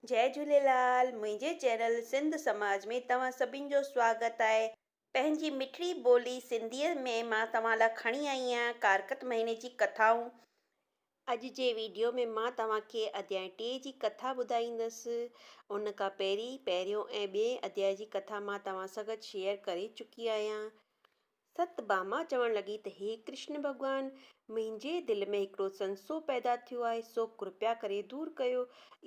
جئي جهوليلال منهنجي چينل سنڌ سماج ۾ توهان سڀين جو سواگت آهي پنهنجي مٺڙي ٻولي سنڌيء ۾ مان توهان لا کڻي آئي آهيان ڪارڪت مهيني جي ڪٿائون. اڄ جي ويڊيو ۾ مان توهان کي اڌيائي ٽي جي ڪٿا ٻڌائيندس ان کان پهرين پهريون ۽ ٻئين اڌيائي جي ڪٿا مان توهان سان گڏ شيئر ڪري چڪي آهيان ست ڀاما چوڻ لڳي ته هي ڪرشن ڀڳوان! منهنجي دل ۾ هڪڙو سنسو پيدا ٿيو آهي، سو ڪرپيا ڪري دور ڪيو.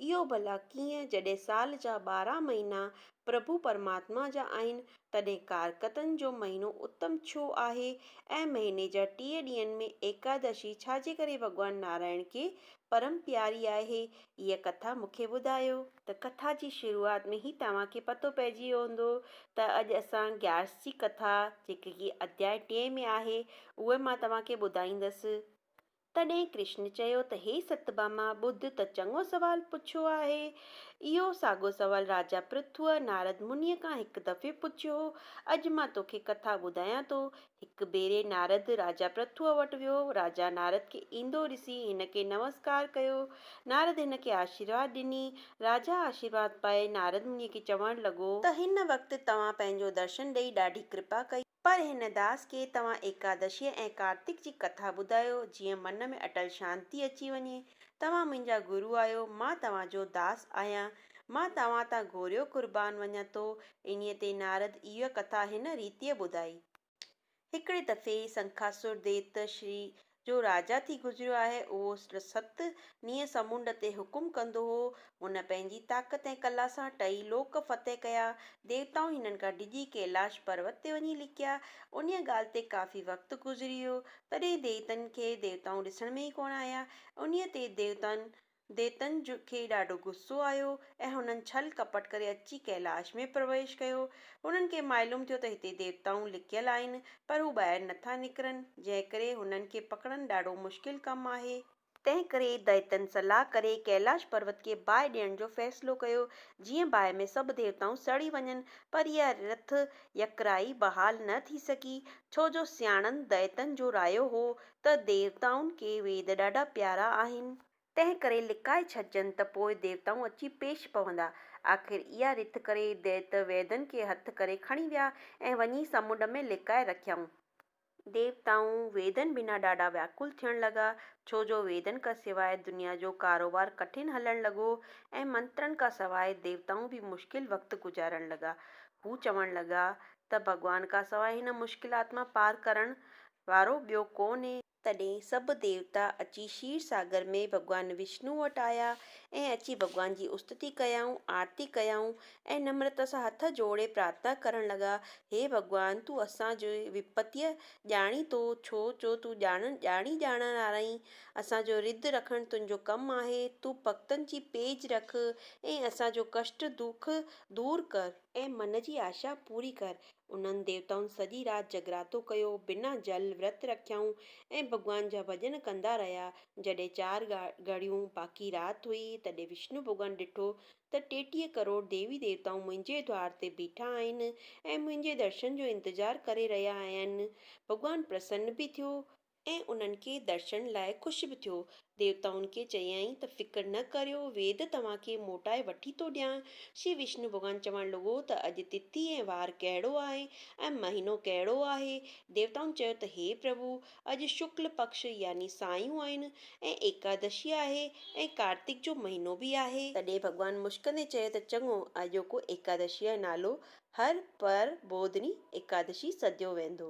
اهو ڀلا ڪيئن؟ جڏهن سال جا ٻارهن مهينا پرڀو پرماتما جا آهن، تڏهن ڪارڪتن جو مهينو اتم ڇو آهي ۽ مهيني جا ٽيهه ڏينهن ۾ ايڪادشي ڇا جي ڪري ڀڳوان نارائڻ کي پرم پياري آهي هيء ڪٿا مون کي ٻڌايو. ته ڪٿا جي شروعات ۾ ئي توهان کي پتو پئجي ويو هوندو ته اڄ اسان گيارس جي ڪٿا جيڪي ڪي اڌياء ٽئين ۾ آهي اهي مان توهان کي ٻڌائيندس. تڏهن ڪرشن چيو ته هي ستڀاما ٻڌ ته چڱو سوال پڇيو آهي. اهو ساڳو سوال راجا پرٿوء نارد منيء کان هڪ دفعي پڇيو هو. اڄ مان توکي ڪٿا ٻڌايان ٿو هڪ ڀيري نارد راجا پرٿوء وٽ ويو. راجا نارد کي ايندو ڏسي هن کي نمسڪار ڪيو. نارد هن کي آشيرواد ڏني. راجا آشيرواد پائي نارد منهي کي چوڻ لڳو. ته هن وقت توهان پنهنجو درشن ڏئي ڏاڍي ڪرپا ڪئي. پر هن داس کي توهان ايڪادشيء ۽ ڪارتڪ جي ڪٿا ٻڌايو جيئن من ۾ اٽل شانتي اچي وڃي. توهان منهنجا گرو آهيو. مان توهان جو داس آهيان. مان توهان تان گهوريو قربان وڃان ٿو. انهيء تي نارد اها ڪٿا هن ريتيء ٻڌائي. هڪڙي دفعي سنکاسور ديت، شري، جو راجا ٿي گذريو آهي. اهو ست نينهن سمنڊ تي حڪم ڪندو هو. هن پنهنجي طاقت ۽ ڪلا سان ٽئي لوڪ فتح ڪيا. ديوتائون هنن کان ڊڄي ڪيلاش پروت تي وڃي لڪيا. انهيء ڳالهه تي ڪافي وقت گذري ويو. تڏهن ديتن کي ديوتائون ڏسڻ ۾ ئي ڪونه آيا. انهيء تي ديوتائن ديوتن کي ڏاڍو غصو آيو ۽ هنن ڇل ڪپٽ ڪري اچي ڪيلاش ۾ پرويش ڪيو. هنن کي معلوم ٿيو ته هتي ديوتائون لڪيل آهن، پر هو ٻاهر نه ٿا نڪرن، جنهن ڪري هنن کي پڪڙڻ ڏاڍو مشڪل ڪم آهي. تنهن ڪري ديوتن صلاح ڪري ڪيلاش پروت کي باهه ڏيڻ جو فيصلو ڪيو، جيئن باهه ۾ سڀ ديوتائون سڙي وڃن، پر اها رٿ يڪرائي بحال نه ٿي سگهي، ڇو جو سياڻن ديوتن جو رايو هو ته ديوتائن کي ويد ڏاڍا پيارا آهن. تنهن ڪري لڪائي ڇڏجن ته پوء ديوتائون اچي پيش پوندا. آخر اها رٿ ڪري ديت ويدن کي هٿ ڪري کڻي ويا ۽ وڃي سمنڊ ۾ لڪائي رکيائون. ديوتائون ويدن بنا ڏاڍا وياڪل ٿيڻ لڳا، ڇو جو ويدن کان سواء دنيا جو ڪاروبار ڪٺن هلڻ لڳو ۽ منترن کان سواء ديوتائون به مشڪل وقت گذارڻ لڳا. هو چوڻ لڳا ته ڀڳوان کان سواء هن مشڪلات مان پار ڪرڻ وارو ٻيو ڪو نهي. تڏهن سڀ ديوتا اچي شير ساگر ۾ ڀڳوان وشنوء وٽ آيا ۽ اچي ڀڳوان جي استتي ڪيائون، آرتي ڪيائون ۽ نمرتا سان هٿ جوڙي پرارٿنا ڪرڻ لڳا، هي ڀڳوان! تون اسان جي وپتيء ڄاڻين ٿو، ڇو جو تون ڄاڻڻ ڄاڻي ڄاڻڻ هار آهين. اسان جو رڌ رکڻ تنهنجو ڪم آهي. تون ڀڳتن جي پيج رک ۽ اسان جو ڪشٽ دک دور ڪر. ۽ من جي آشا پوري ڪر. انهن ديوتائن سڄي رات جڳراتو ڪيو، بنا جل ورت رکيائون ۽ ڀڳوان جا ڀڄن ڪندا رهيا. جڏهن چار گهڙيون باقي رات هئي، تڏهن وشنو ڀڳوان ڏٺو ته ٽيٽيهه ڪروڙ ديوي ديوتائون منهنجي دوار تي بيٺا آهن ۽ منهنجي درشن جو انتظار ڪري رهيا آهن. ڀڳوان پرسن به ٿيو ۽ انهن کي درشن لاء خوش به ٿيو. ديوتائن کي چيائين ته فڪر نه ڪريو، ويد توهان کي موٽائي وٺي ٿو ڏيان. شري وشنو ڀڳوان چوڻ لڳو ته اڄ تٿي ۽ وار ڪهڙو آهي ۽ مهينو ڪهڙو آهي؟ ديوتائن چيو ته هي پرڀو! اڄ شڪل پڪش يعني سايون آهن ۽ ايڪادشي آهي ۽ ڪارتڪ جو مهينو به آهي. تڏهن ڀڳوان مسڪندي چيو ته چڱو، اڄوڪو ايڪادشيء جو نالو هر پر ٻوڌني ايڪادشي سڏيو ويندو.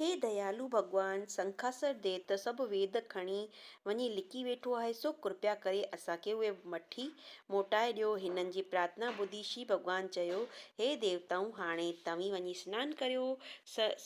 هي ديالو ڀڳوان سنگهاسر ديو ته سڀ ويد کڻي وڃي لڪي ويٺو آهي، سو ڪرپيا ڪري اسان کي اهي مٺي موٽائي ڏيو. هنن جي پرارٿنا ٻڌي شي ڀڳوان چيو، هي ديوتائون! هاڻي توهين وڃي سنان ڪريو،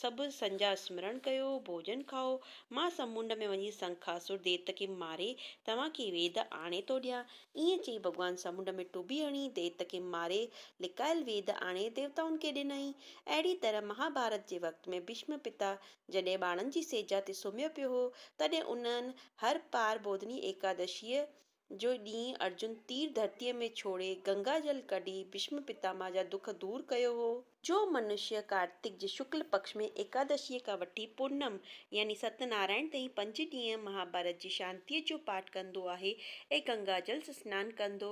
سڀ سنجا سمرڻ ڪيو، ڀوڄن کائو، مان سمنڊ ۾ وڃي سنگهاسر ديو کي ماري توهان کي ويد آڻي ٿو ڏيان. ائين چئي ڀڳوان سمنڊ ۾ ٽٻي هڻي ديو کي ماري لڪايل ويد آڻي ديوتائن کي ڏنائين. اهڙيء طرح مهاڀارت جي وقت ۾ ڀيشم پتا جڏهن ٻانهن جي سيجا تي سمهيو پيو هو، تڏهن انهن هر پار ٻوڌني ايڪادشيء جو ڏينهن ارجن تير ڌرتيء ۾ ڇوڙي، گنگا جل ڪڍي، ڀيشم پتاما جا دک دور ڪيو هو. جو منشيه ڪارتڪ جي شڪل پڪش ۾ ايڪادشيء کان وٺي پورنم يعني ست نارائڻ تائين پنج ڏينهن مهاڀارت جي شانتيء جو پاٺ ڪندو آهي ۽ گنگا جل سنان ڪندو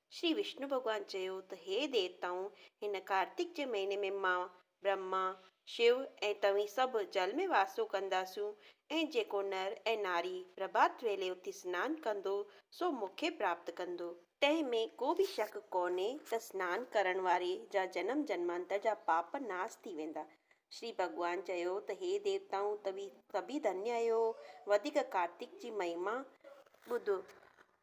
شري وشنو ڀڳوان چيو ته هي ديوتائون! هن ڪارتڪ جي مهيني ۾ مان، برهما، شو ۽ توهين سڀ جل ۾ واسو ڪنداسون ۽ جيڪو نر ۽ ناري پرڀات ويلي اٿي سنان ڪندو سو مون کي پراپت ڪندو. تنهن ۾ ڪو به شڪ ڪونهي ته سنان ڪرڻ واري جا جنم جنمانتر جا پاپ ناس ٿي ويندا. شري ڀڳوان چيو ته هي ديوتائون! توهين سڀيئي ڌنيا آهيو. وڌيڪ ڪارتڪ جي مهيما ٻڌو.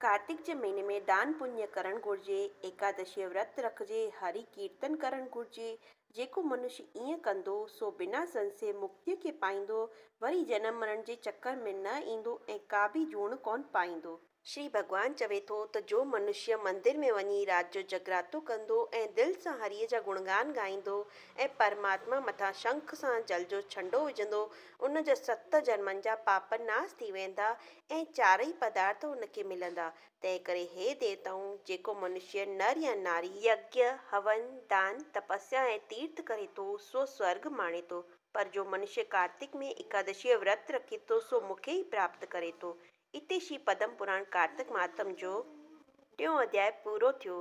ڪارتڪ جي مھيني ۾ دان پڃ ڪرڻ گھرجي، ايڪادشيء ورت رکجي، ھري ڪيرتن ڪرڻ گھرجي، جيڪو منش ائين ڪندو، سو بنا سنسي مڪتيء کي پائيندو، وري جنم مرڻ جي چڪر ۾ نه ايندو ۽ ڪابه جوڻ ڪونه پائيندو. شري ڀڳوان چوي ٿو ته جو منشيء مندر ۾ وڃي رات جو جگراتو ڪندو ۽ دل سان ھريء جا گڻگان ڳائيندو ۽ پرماتما مٿان شنک سان جل جو ڇنڊو وجھندو، ان جا ست جنمن جا پاپ ناس ٿي ويندا ۽ چارئي پدارٿ هن کي ملندا، تنهن ڪري هي ديوتائون، جيڪو منشيه نر يا ناري، يجنه، هون، دان، تپسيا ۽ تيرٿ ڪري ٿو، سو سورڳ ماڻي ٿو، پر جو منشيه ڪارتڪ ۾ ايڪادشيء جو ورت رکي ٿو، سو مون کي ئي پراپت ڪري ٿو. اتي شري پدم پراڻ ڪارتڪ مهاتم جو ٽيون اڌياء پورو ٿيو.